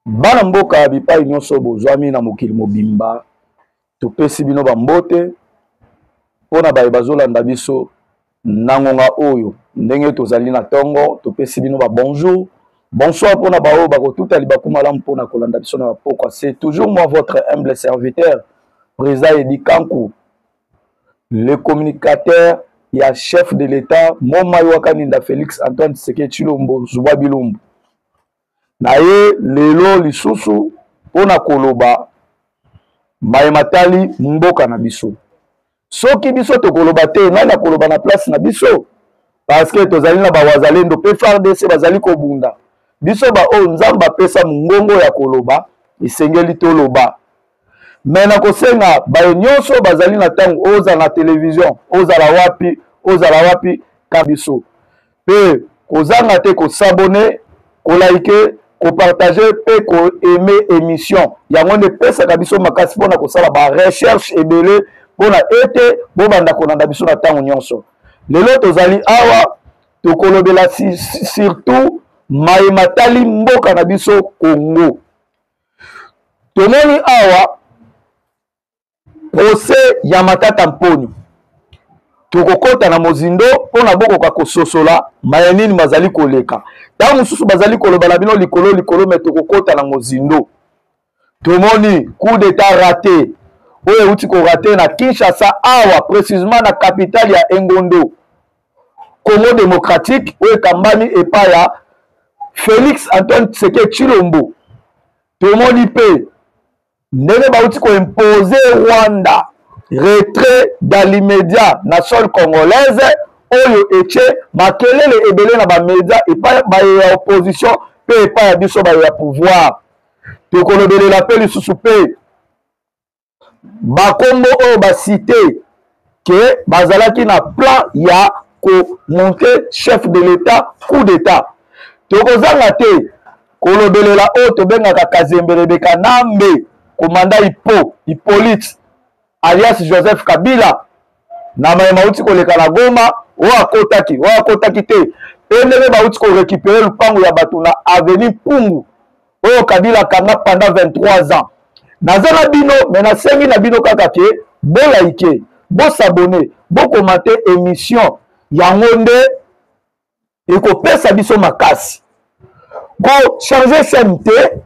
bana mboka bipai nyonso bozwami na mokili mobimba topesi bino bambote mpo na baye bazolanda biso na ngonga oyo ndenge tozali na ntongo topesi bino babonjour bonsoir mpo na baoyo bakotuta libaku malamu mpo na kolanda biso na bapokwa se toujours moi votre humble serviteur président edi kanku le communicateur ya chef de l'état momai wakaninda félix antoine tseke tshilombo zubwa bilombo na ye lelo lisusu mpo na koloba maye matali mboka na biso. Soki biso tokoloba te, nani akoloba na place na biso? Parce que tozali na bawazalendo mpe FARDC bazali kobunda. Biso baoyo Nzambe apesa mongongo ya koloba, esengeli toloba. me nakosenga baye nyonso bazali na ntango ozala na televizio ozala wapi ozala wapi ka biso mpe kozanga te kosabone kolaike kopartage mpe koaime émission yango nde epesaka biso makasi mpona kosala barecherche ebele mpona ete bobanda kolanda biso na ntango nyonso lelo tozali awa tokolobela surtout maye matali mboka na biso congo tomoni awa procès ya matata mponi tokokɔta na mozindo mpo na bokoka kososola maya nini mazali koleka ntango mosusu bazali koloba na bino likolo likolo me tokokɔta na mozindo tomoni coup d'etat rate oyo euti korate na kinshasa awa precisement na capitale ya engondo congo démocratique oyo ekambami epa ya félix antoine tseke tshilombo tomoni mpe ndenge bauti koimpose rwanda retrait dans l'immédiat na sol congolaise oyo etye makelele ebele na bamedia epai baye ya opposition mpe epai ya biso baye ya pouvoir tokolobelela mpe lisusu mpe bakombo oyo basite ke bazalaki na plan ya komonte chef de l'etat coup d'etat tokozanga te kolobelela oyo tobengaka kazembelebe kanambe komanda ipo ipolite alias joseph kabila na maye mauti koleka na goma oyo akotaki oyo akotaki te mpe ndenge bauti korekipere lupango ya bato na aveni mpungu oyo kabila akanga pendant 23 ans naza na bino me nasengi na bino kaka ke bolaike bosabone bokomante émission yango nde ekopesa biso makasi kochange chaine te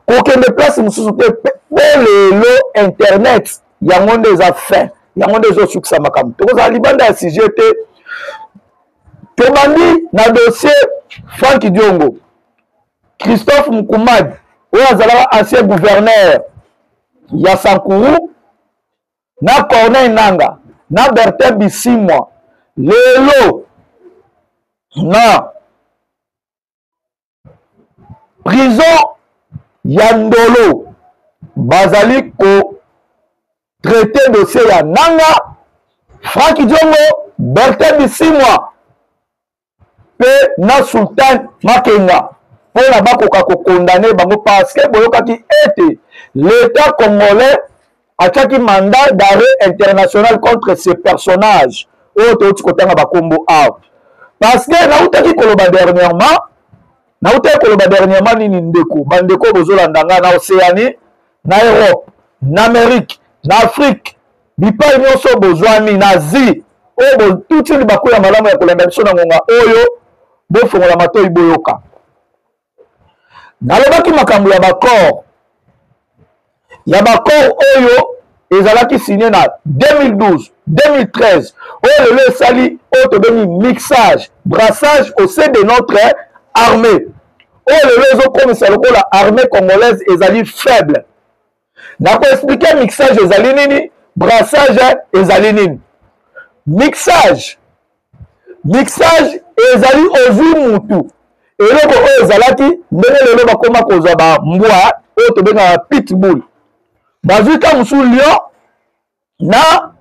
kokende place mosusu te po lelo internet yango nde eza fin yango nde ezosukisa makambo tokozala libanda ya sujet te tobandi na dossier frank diongo christophe mukumadi oyo azalaka ancien gouverneur ya sankuru na corneille nanga na bertin bisimwa lelo na prison ya ndolo bazali ko traite dossier ya nanga franki diongo bertin bisimwa mpe na sultan makenga mpo na bakoka kokondane bango parce que boyokaki ete l'État congolais atiaki mandat d'arrêt international contre ces personnages oyo touti kotanga bakombo awa parce que nautaki koloba dernièrement nautaki koloba dernièrement nini ndeko bandeko oyo bozolanda ngai na océanie na europe na amerike na afrike bipai nyonso bozwami na asie oyo botuti libaku ya malamu ya kolanda biso na ngonga oyo bofongola matoi boyoka nalobaki makambo ya baccord ya baccord oyo ezalaki signe na 2012 2013 oyo lelo esali oyo tobengi mixage brassage au sein de notre armée oyo lelo ezokomisa lokola armée congolaise ezali faible na koexplike mixage ezali nini brassage ezali nini mixage mixage ezali ozwi mutu eloko oyo ezalaki ndenge lelo bakoma kozwa bambwa oyo tobengaka pitbull bazwi ka mosusu lion na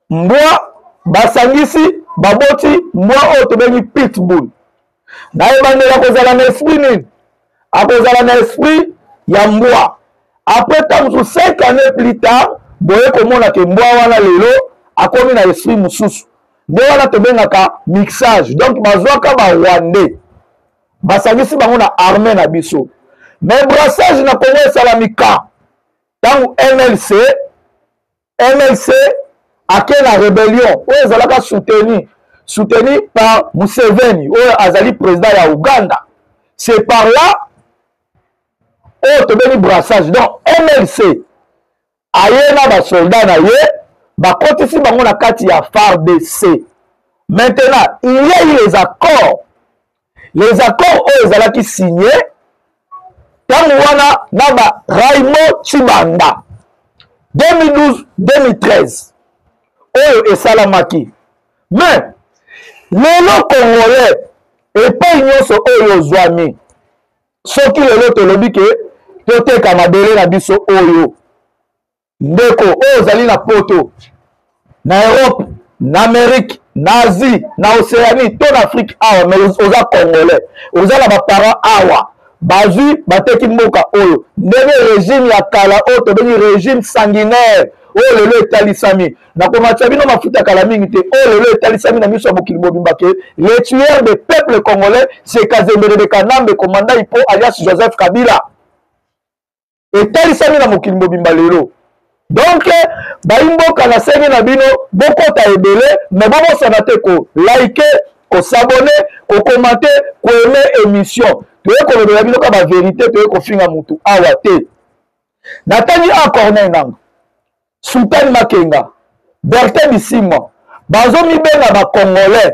mbwa basangisi baboti mbwa oyo tobengi pitbull na ebandeli akozala na esprit nini akozala na esprit ya mbwa apres ntango mosusu 5 année plus tard boye komona ke mbwa wana lelo akomi na esprit mosusu nde wana tobengaka mixage donc bazwaka barwandais basangisi bango na arme na biso mais brassage na kongo esalamika ntango mlc mlc ake na rebellion oyo ezalaka soutenu soutenu par museveni oyo azali président ya ouganda c'est par là oyo tobeni brassage donc mlc aye na basoldat na ye bakotisi bango na kati ya fardc maintenant il y a eu les accords les accords oyo ezalaki signe ntango wana na ba raymond chibanda 2012 2013 oyo esalamaki me lelo congolais epai nyonso oyo ozwami soki lelo tolobi ke toteka mabele na biso oyo ndeko oyo ozali na poto na europe na amerike na asie na océanie to na afrike awa mai oza congolais oza na baparent awa bazwi bateki mboka oyo ndenge regime ya kala oyo tobengi regime sanguinaire oyo lelo etalisami nakomatisa bino mafuta kala mingi te oyo lelo etalisami na miso ya mokili mobimba ke le tueur de peuple congolais sekazembelebe kanambe komandai mpo alias joseph kabila etalisami na mokili mobimba lelo donc bayimboka na senge na bino bokota ebele me bobosana te kolike kosabone kokomante koeme émission toye kolobela bino ka baverité toye kofinga motu awa te natangi a corneil nanga sultani makenga bertin bisimwa bazomibenga bacongolais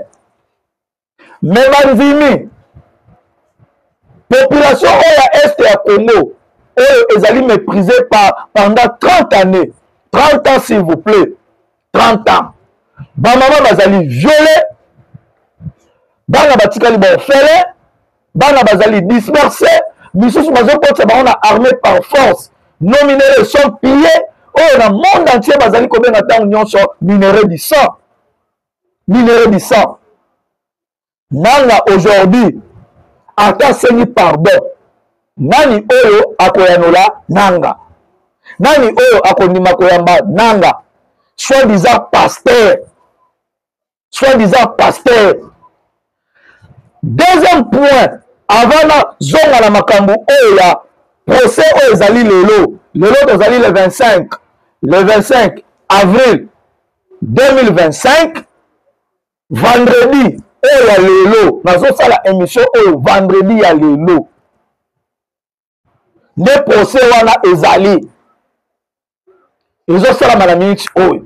me bandimi population oyo ya este ya congo oyo ezali méprisé par pendant 30 années 30 ans s'il vous plaît 30 ans bamama bazali viole bana batikali baofele bana bazali disperse misusu bazokotisa bango na armée par force nos minéraux sont pillés oyo na monde entier bazali kobenga ntango nyonso minéraux du sang nini eyebisa nanga aujourd'hui ata asengi pardon nani oyo akoyanola nanga nani oyo akondima koyamba nanga soit disant pasteur soit disant pasteur deuxième point avant na zonga na makambo oyo ya procès oyo ezali lelo lelo tozali le 25 le 25 avril 2025 vendredi oyo ya lelo nazosala émission oyo vendredi ya lelo nde procès wana ezali ezosalama na minute oyo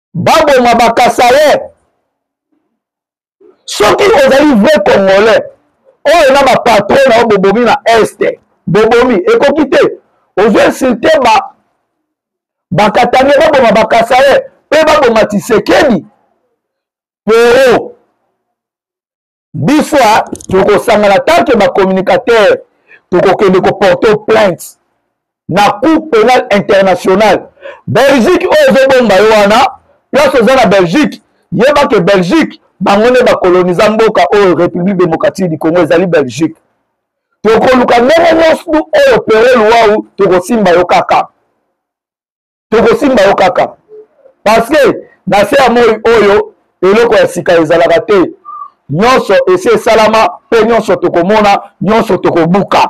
baboma bakasaye soki ozali vrai congolais oyo na bapatron na yo bobomi na este bobomi ekoki te ozo insulte ba bakatani baboma bakasaye mpe baboma tisekedi pero biso tokosangana tanke bacommunicateur tokokende koporte plainte na cour pénal international belgique oyo ezobomba yo wana place oza na belgique yeba ke belgique bango nde bakoloniza mboka oyo république démocratique du congo ezali belgique tokoluka ndenge nyonso oyo pero luwau tokosimba yo kaka tokosimba yo kaka parceke na se ya moi oyo eloko ya sika ezalaka te nyonso esi esalama mpe nyonso tokomona nyonso tokobuka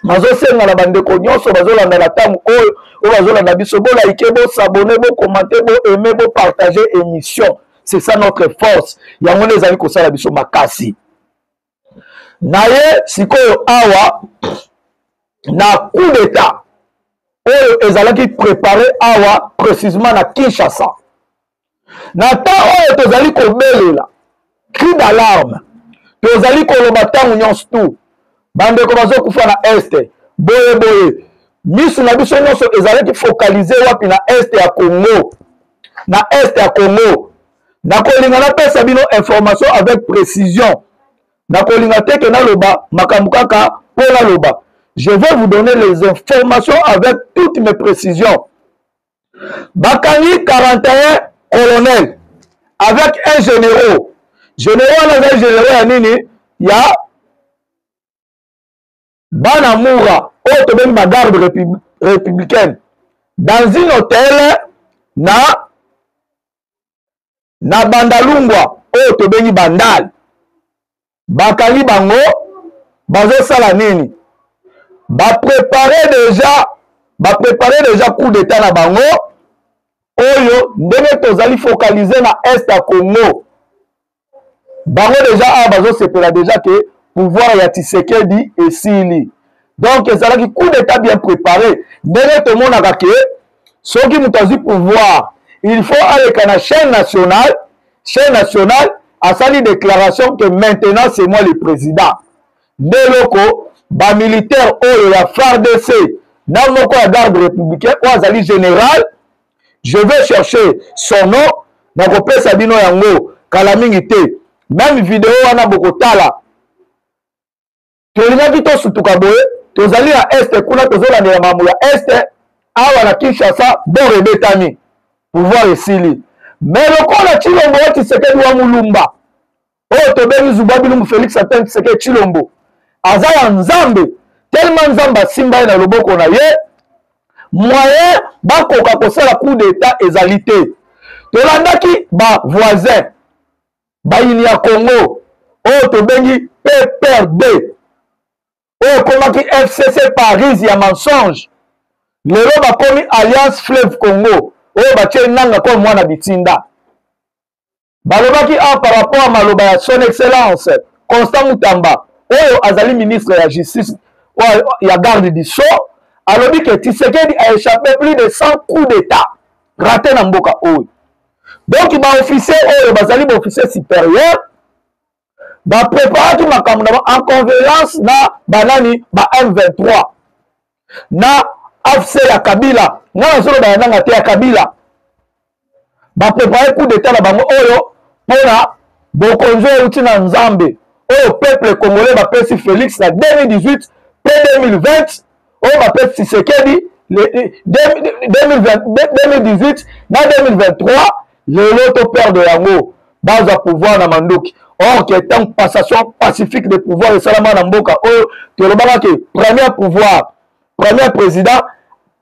nazosenga na bandeko nyonso bazolanda na ntango oyo oyo bazolanda biso bolaike bosabone bokomante boaime bopartage émission c'est ça notre force yango nde ezali kosala biso makasi naye sikoyo awa na coup d'etat oyo ezalaki prépare awa précisement na kinshasa na temps oyo tozali kobelela cri d'alarme tozali koloba ntango nyonso tu bandeko bazokufa na este boye boye misu na biso nyonso ezalaki focalize wapi na este ya congo na este ya congo nakolinga napesa bino information avec précision nakolinga te ke naloba makambo kaka mpo naloba je vais vous donner les informations avec toutes mes précisions bakangi 41 colonel avec un généraux généraux wana ezali généraux ya nini ya bana mura oyo tobengi ba garde repub, républicaine dans une hôtel na na bandalungwa oyo tobengi bandal bakangi bango bazosala nini baprepare deja baprepare deja coup d'état na bango oyo ndenge tozali focalize na est ya congo bango deja awa bazosepela deja ke pouvoir ya tisekedi esili donc ezalaki coup d'état bien préparé ndenge tomonaka ke soki moto azwi pouvoir il faut aleka na chaîne nationale chaîne nationale asali déclaration que maintenant c'est moi le président nde eloko bamilitaire oyo ya fardc na moko ya garde républicain oyo azali général je vais chercher son nom nakopesa bino yango kala mingi te meme video wana bokotala tolingaki tosutuka boye tozali na este kuna tozolandela makambo ya este awa na kinshasa bor ebetami pouvoir esili me lokola cilombo ya tshisekedi wa mulumba oyo tobengi zuba bilumbu félix antoine tshisekedi tshilombo aza ya nzambe telema nzambe asimba ye na loboko na ye moyen bakoka kosala coup d'état ezali te tolandaki bavoisin bayini ya congo oyo tobengi pprd oyo ekomaki fcc paris ya mensonge lelo bakomi alliance fleuve congo oyo batye nanga koo mwana bitinda balobaki awa par rapport ya maloba ya son excellence constant mutamba oyo azali ministre ya justice oyo ya garde du sceau alobi ke tisekedi a échappé plus de 100 coups d'état rate na mboka oyo donc baofficier oyo bazali baofficier supérieur bapreparaki makambo na en convergence na banani ba m23 na afc ya kabila ngai nazoloba ya nanga te ya kabila baprepare coup d'etat na bango oyo mpona bokonzi oyo euti na nzambe oyo peuple congolais bapesi félix na 2018 mpe 2020 oyo oh, bapesi tshisekedi 2018 na 2023 lelo to perdre yango bazwa pouvoir na manduki or que tant passation pacifique de pouvoir esalama na mboka oyo oh, tolobaka ke premier pouvoir premier président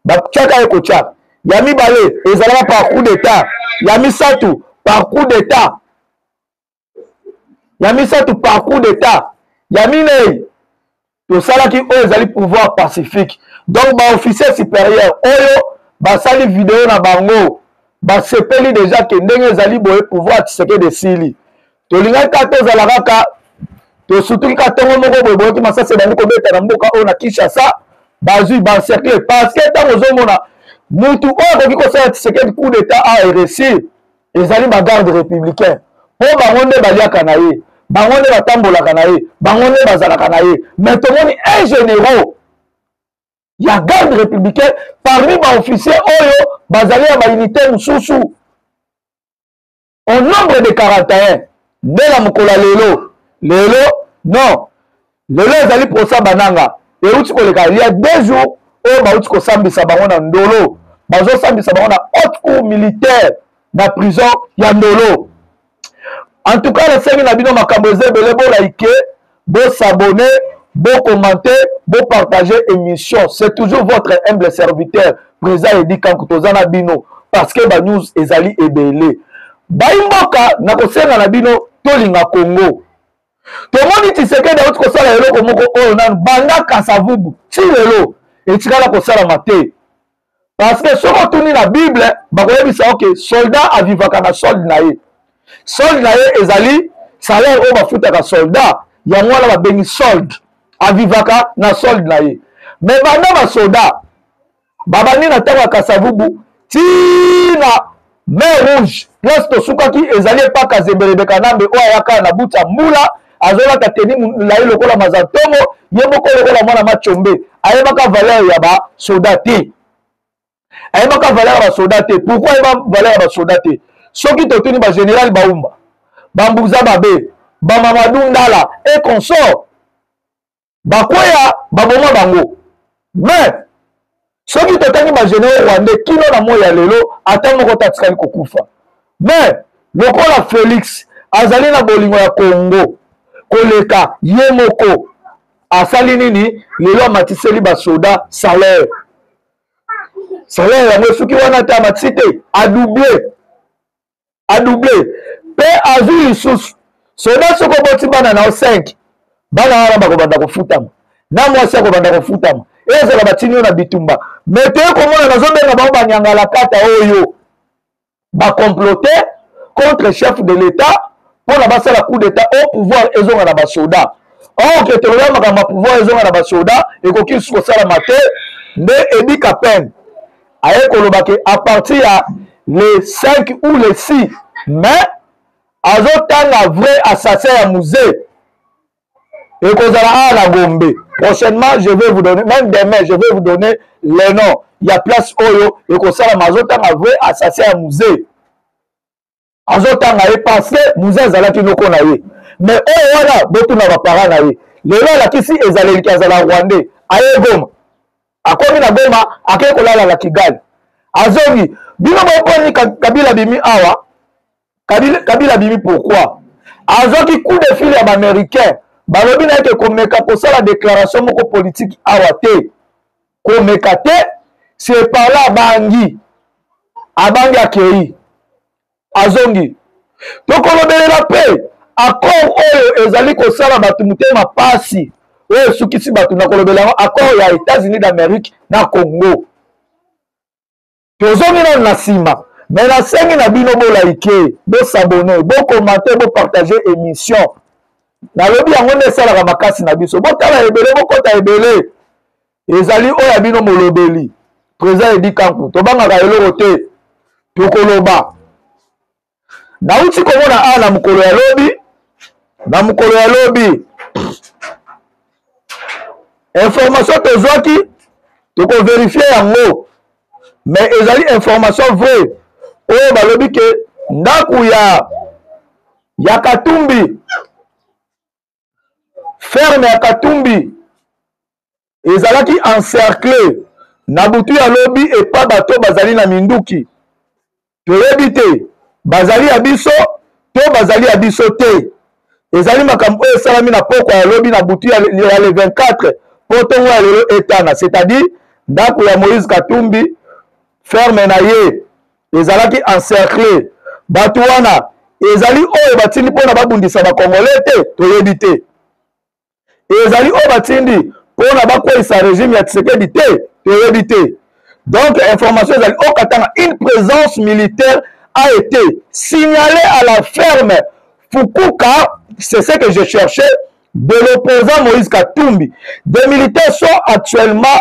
batyaka ye kotya ya mibale ezalaka par coup d'état ya misato par coup d'état ya misato parcours d'état ya minei tosalaki oyo ezali pouvoir pacifique donc baofficier supérieur oyo basali video na bango basepeli deja ke ndenge ezali boye pouvoir tisekedi esili tolingaki kaka tozala kaka tosutuki ka ntongo moko boye boyoki masasi ebandi kobeta na mboka oyo na kinshasa bazwi bancercle parce que ntango ozomona mutu oyo akoki kosala tisekedi coup d'état a eressir ezali ba garde républicain mpo bango nde baliaka na ye bango nde batambolaka na ye bango nde bazalaka na ye mais tomoni un généraux ya garde républicain parmi baofficier oyo bazali ya baunité mosusu au nombre de 41 nde na mokolo ya lelo lelo non lelo ezali prosa bananga euti koleka il y a deux jours oyo bauti kosambisa bango na ndolo bazosambisa bango na haute cour militaire na prison ya ndolo en tout cas nasengi na bino makambo eza ebele bolaike bosabone bokomante bopartage émission c'est toujours votre humble serviteur président edi kanku toza na bino parce que banews ezali ebele baimboka nakosenga na bino tolinga congo tomoni tshisekedi auti kosala eloko moko oyo nanu banda kasavubu ti lelo etikala kosalama te parce que soki otuni na bible bakoyebisa yo ke soldat avivaka na solde na ye solde na ye ezali salaire oyo bafutaka soldat yango wana babengi solde avivaka na solde na ye me banda basoda babandi na ntango ya kasavubu tii na mer rouge place tosukaki ezali epa kazembelebe kanambe oyo ayaka na buta mbula azolata teni molai lokola mazantongo ye moko lokola mwana macombe ayebaka valeur ya basoda te ayebaka valeur ya basoda te pourkui ayeba valeur ya basoda te soki totuni bagénéral baumba bambuza babe bamamadou ndala e consort bakweya baboma bango mais soki totangi bagenero rwandais kino na moi ya lelo ata moko te atikali kokufa mais lokola felix azali na bolingo ya kongo koleka ye moko asali nini lelo amatiseli basoda salaire salaire yango esuki wana te amatisi te adouble adouble mpe azwi lisusu soda soki oboti bana na yo 5 bana wana bakobanda kofutama na mwasi akobanda kofutama ezala batini yo na bitumba me toye komona nazobenga bango banyangalakata oyo bakomplote contre chef de l'etat mpo na basala coup d'etat au pouvoir ezonga na basoda or ke toloba makambo ya pouvoir ezonga na basoda ekoki lisusu kosalama te nde edika pene aye koloba ke à partir ya le 5 ou le 6 mais azotanga vrai assassin ya musee ekozala awa na gombe prochainement je vais vous donner même demain je vais vous donner le nom ya place oyo ekosalama azotanga vrai assassin ya musee azotanga ye parce que muze azalaki noko na ye mais oyo wana botuna bapara na ye lelo alakisi ezaleliki azala rwandais aye goma akomi na goma akei kolala na kigali azongi bino boponi kabila bimi awa kabila, kabila bimi pourquoi azwaki coup de fil ya baaméricain balobi na ye ke komeka kosala déclaration moko politiki awa te komeka te separla abangi abangi akei azongi tokolobelela mpe accord oyo ezali kosala bato motema mpasi oyo esukisi bato na kolobela yango accord ya états-unis d'amérique na congo tozongi nano na nsima me nasengi na bino bolaike bosabone bokomante bopartage émission nalobi yango nde esalaka makasi na biso botala ebele bokota ebele ezali oyo ya bino molobeli président edi kanku tobangaka eloko te tokoloba nauti komona awa na mokolo ya lobi na mokolo ya lobi information tozwaki tokoverifie yango me ezali information vrai oyo balobi ke ndako ya ya katumbi ferme ya katumbi ezalaki encercle na butu ya lobi epa bato bazali na minduki toyebi te bazali ya biso to bazali ya biso te ezali makambo oyo esalami na pokwa ya lobi na butu ya le 24 mpo ntongo ya lelo etana c'est-à-dire ndako ya moïse katumbi ferme na ye ezalaki encercle bato wana ezali oyo batindi mpo na babundisa bakongole te toyebi te ezali oyo batindi mpo na bakweisa regime ya tisekedi te toyebi te donc information ezali o katanga une présence militaire a été signalée à la ferme fukuka c'est ce que je cherchais de l'opposant moïse katumbi des militaires sont actuellement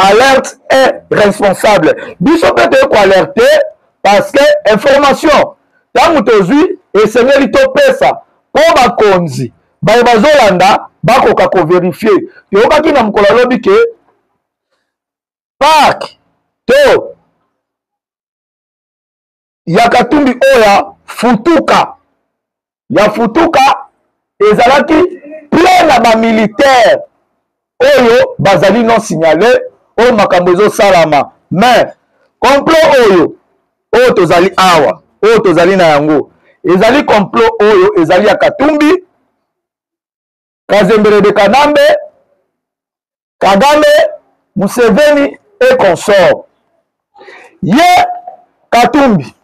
alerte est responsable biso mpe toye koalerte parce que information ntango tozwi esengeli topesa mpo bakonzi baye bazolanda bakoka koverifie toyokaki na mokolo alobi ke park to ya katumbi oyo ya futuka ya futuka ezalaki plein na bamilitaire oyo bazali non signale oyo makambo ezosalama mais complot oyo oyo tozali awa oyo tozali na yango ezali complot oyo ezali ya katumbi kazembere de kanambe kagame museveni e consort ye katumbi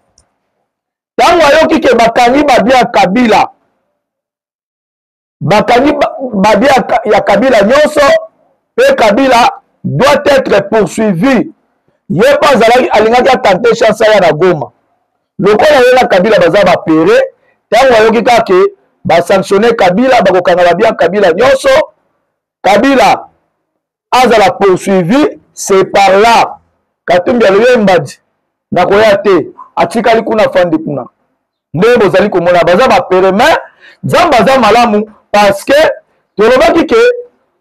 ntango ayoki ke bakangi babi ya kabila bakangi babi ya kabila nyonso mpe kabila doit être poursuivi ye mpe azalaki alingaki atante chance aya na goma lokola ye na kabila baza bapere ntango ayoki kaka ke basanctionne kabila bakokanga babia kabila nyonso kabila azala poursuivi c'est par là katumbi alobi ye mbadi nakoya te atikali kuna fandi kuna ndenge bozali komona baza bapere mai nzambe aza malamu parce que tolobaki ke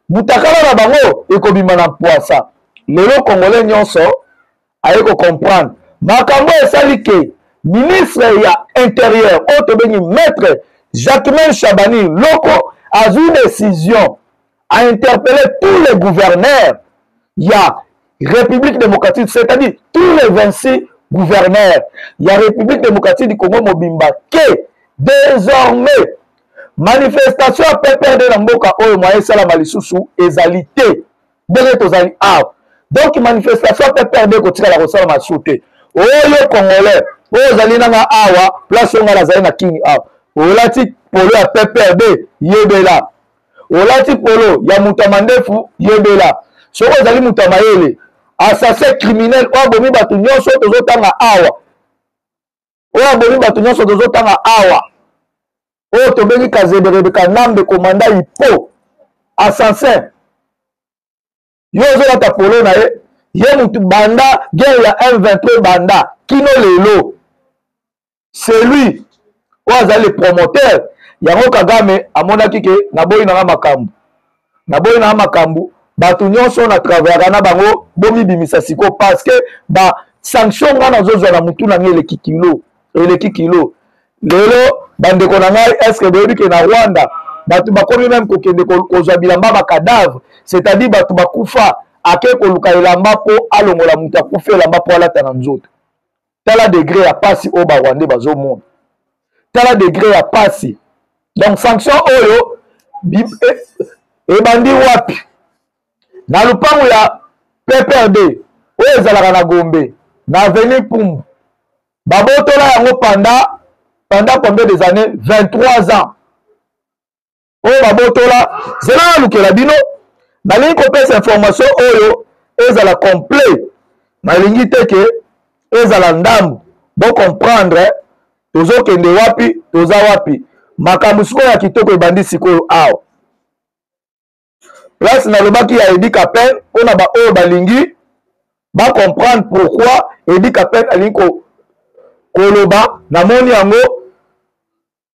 mutakala na bango ekobima na mpwasa lelo congolais nyonso aye ko comprendre makambo esali ke ministre ya interieur oyo tobengi maître jacquemain shabani loko azwi décision ainterpelle tous les gouverneurs ya république démocratique c'est-à-dire tous les 26 gouverneurs ya république démocratique du congo mobimba ke désormais manifestation ya pprd na mboka oyo mwa esalama lisusu ezali te ndenge tozali awa donc manifestation ya pprd ekotikala kosala masu te oyo congolais oyo ozali nanga awa place oyo ngai nazali na kini awa olati polo ya pprd yebela olati polo ya moto ya mandefu yebela soki ozali moto ya mayele assassin criminel oyo abomi bato nyonso tozotanga awa oyo abomi bato nyonso tozotanga awa oyo tobengi kazeberebe kanambe komanda ipo assassin yo ozolata polo na ye ye motu banda guerre ya m23 ebanda kino lelo celui oyo azali le promoteur yango kagame amonaki ke naboyi nanga makambo naboyi na makambo bato nyonso na travaillaka na bango bomibimisa siko parce que ba sanction ngai nazozwa na motu na ngai eleki kilo eleki kilo lelo bandeko na ngai estce boyebi ke na rwanda bato bakomi meme kokende kozwa bilamba bacadavre c'est-à-dire bato bakufa ake koluka elamba mpo alongola moto akufa elamba mpo alata na nzoto tala degre ya pasi oyo barwandais bazomona tala degre ya pasi donc sanction oyo eh, ebandi wapi na lopango ya pprd oyo ezalaka na gombe na aveni pumbu babotola yango panda panda combien des années 23 ans oyo babotola zela nalukela bino nalingi kopesa information oyo ezala complet nalingi te ke ezala ndambu bocomprendre tozokende wapi toza wapi makambo sikoyo ya kitoko ebandi sikoyo awa place nalobaki ya edi capel mpo na baoyo balingi bacomprendre pourquoi edi capel alingi koloba namoni yango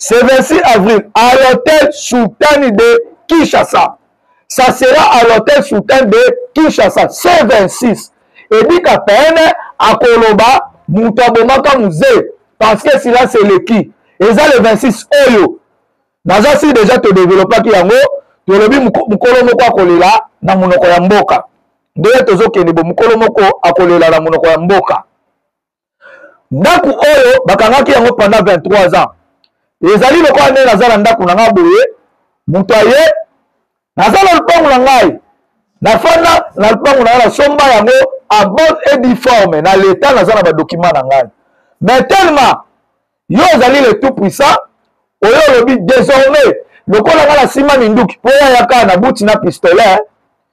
ce 26 avril à l'hôtel Sultani de Kinshasa. Ça sera à l'hôtel Sultani de Kinshasa, ce 26. Et dit qu'à peine, à Koloba, Moutabomaka Musée, parce que cela c'est le qui. Et ça le 26 Oyo. Naza si déjà te développa qui yango, tolobi mukolo moko akolela na munoko ya mboka. Ndoya tozokende bo mukolo moko akolela na munoko ya mboka. ndako oyo bakangaki yango pendant 23 ans ezali lokola ndenge naza na ndako na ngai boye moto aye naza na lopango na ngai nafanda na lopango na ngai nasomba yango a bonne et difforme na leta naza na badokima na ngai mais tellement yo ozali le tout puissant oyo olobi désormais lokola ngai nasima minduki mpo yayaka na buti na pistolet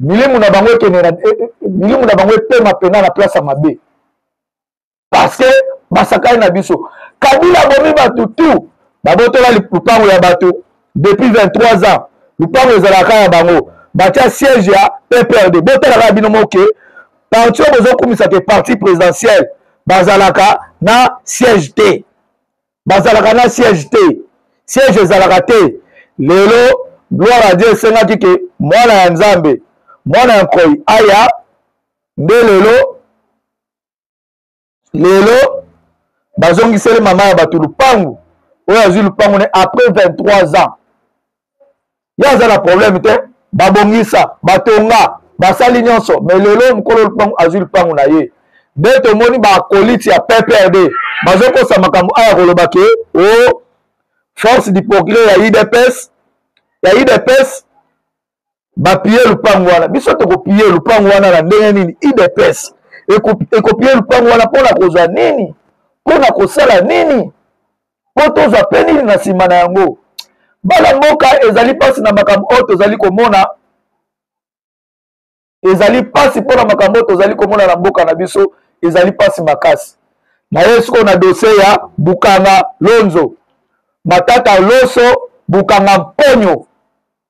milimu na bango ekende na e, e, milimu na bango epema mpena na place ya mabe parce que basakani na biso kabila abomi bato tu babotola lupango ya bato depuis 23 ans lupango ezalaka ya bango batya siège ya pprd botalaka bino moke parti oyo bozokumisa ke parti présidentiel bazalaka na siège te bazalaka na siège te siège ezalaka te lelo gloire ya dieu esengaki ke mwana ya nzambe mwana ya nkoi aya nde lelo lelo bazongiseli mama ya bato lupangu oyo azwi lupangu ne après 23 ans ye aza na problème te babongisa batonga basali nyonso me lelo mokolo lupangu azwi lupangu na ye nde tomoni bakoliti ya pprd bazokosa makambo aya koloba ke o oh, force du progrès ya udps ya udps bapiye lupangu wana biso tokopiye lupangu wana na ndenge nini udps ekopiye lupangu wana mpo na kozwa nini mpo na kosala nini mpo tozwa mpe nini na nsima na yango bana mboka ezali mpasi na makambo oyo tozali komona ezali mpasi mpo na makambo oyo tozali komona na mboka na biso ezali mpasi makasi na ye sikoyo na dosie ya bukanga lonzo matata loso bukanga mponyo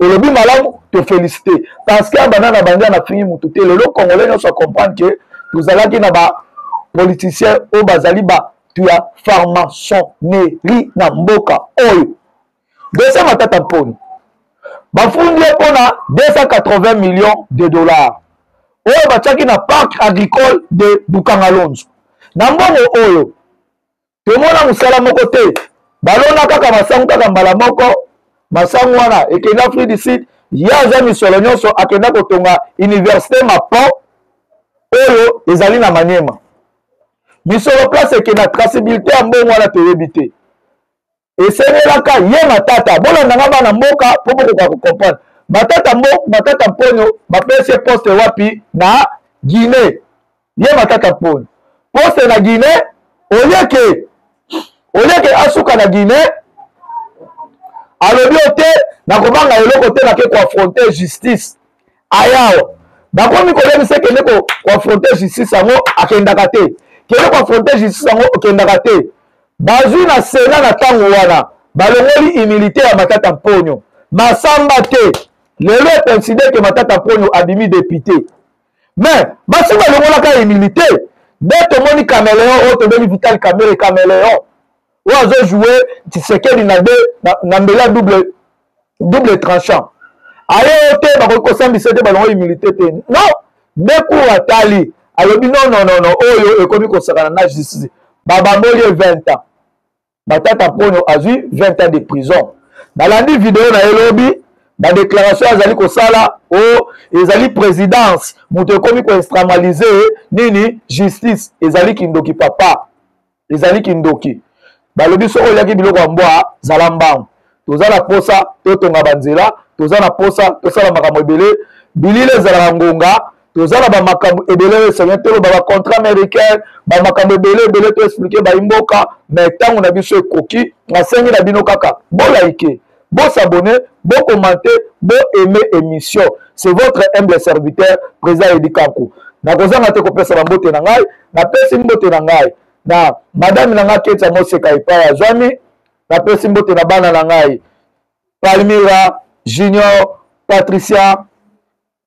olobi malamu to felicite parce que abanda na bandi anafingi motu te lelo congolais nyonso acomprendre ke tozalaki na ba politicien oyo bazali bato ya pharmasonnerie na mboka oyo dose matata mponi bafundi ye mpo na 280 millions de dollars oyo batiaki na parc agricole de bukangalonzo na mbongo oyo tomona mosala moko te balona kaka masangu kaka mbala moko masangu wana ekenda afrique du sud ye aza misolo nyonso akenda kotonga université mapo oyo ezali na maniema misolo place ekenda trasibilité ya mbongo wana toyebi te esengelaka ye matata bolanda nga bana mboka mpo bokoka kocomprendre matata mbo matata mponyo bapesi ye poste wapi na guinee ye matata mponyo poste na guinee oyeke oyeke asuka na guinee alobi yo te nakobanga eloko te nake koafronte justice aya awa bakomi koyebisa kende koafronte justice yango akendaka te kende koafronte justice yango okendaka te bazwi na sena na ntango wana balongoli humilité ya matata mponyo masamba te lelo ekonside ke matata mponyo abimi depute mais basi balongolaka humilité nde tomoni cameleon oyo tobengi vital camere cameleon oyo azo joue tshisekedi na de na mbela double double tranchant aye yo te bakoki kosambisa te balongo humilité te non decour atali alobi non non non non oyo ekomi kosakana na justice babamboli ye 20 ans matata mponyo azwi 20 ans de prison nalandi video na ye lobi badéclaration azali kosala o oh, ezali présidence moto ekomi koinstramalise nini justice ezali kindoki papa ezali kindoki balobi soki oliaki biloko ya mbwa zala mbangu toza na posa totonga banzela toza na posa tosala makambo ebele bilili ezalaka ngonga toza na bamakambo ebele oyo esenge toloba bacontrat américain bamakambo ebele ebele toexplike baimboka mai ntango na biso ekoki nasengi na bino kaka bolaike Bo s'abonner, bo commenter, bo aimer émission. C'est votre humble serviteur, Président Eddy Kanku. Nakozanga te kopesa ba mbote na ngai, napesi mbote na ngai na madame na ngai Ketia Moseka epai azwami, napesi mbote na bana na ngai Palmira, Junior, Patricia,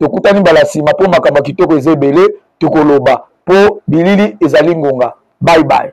tokutani mbala nsima mpo makambo ya kitoko eza ebele tokoloba mpo bilili ezali ngonga bye bye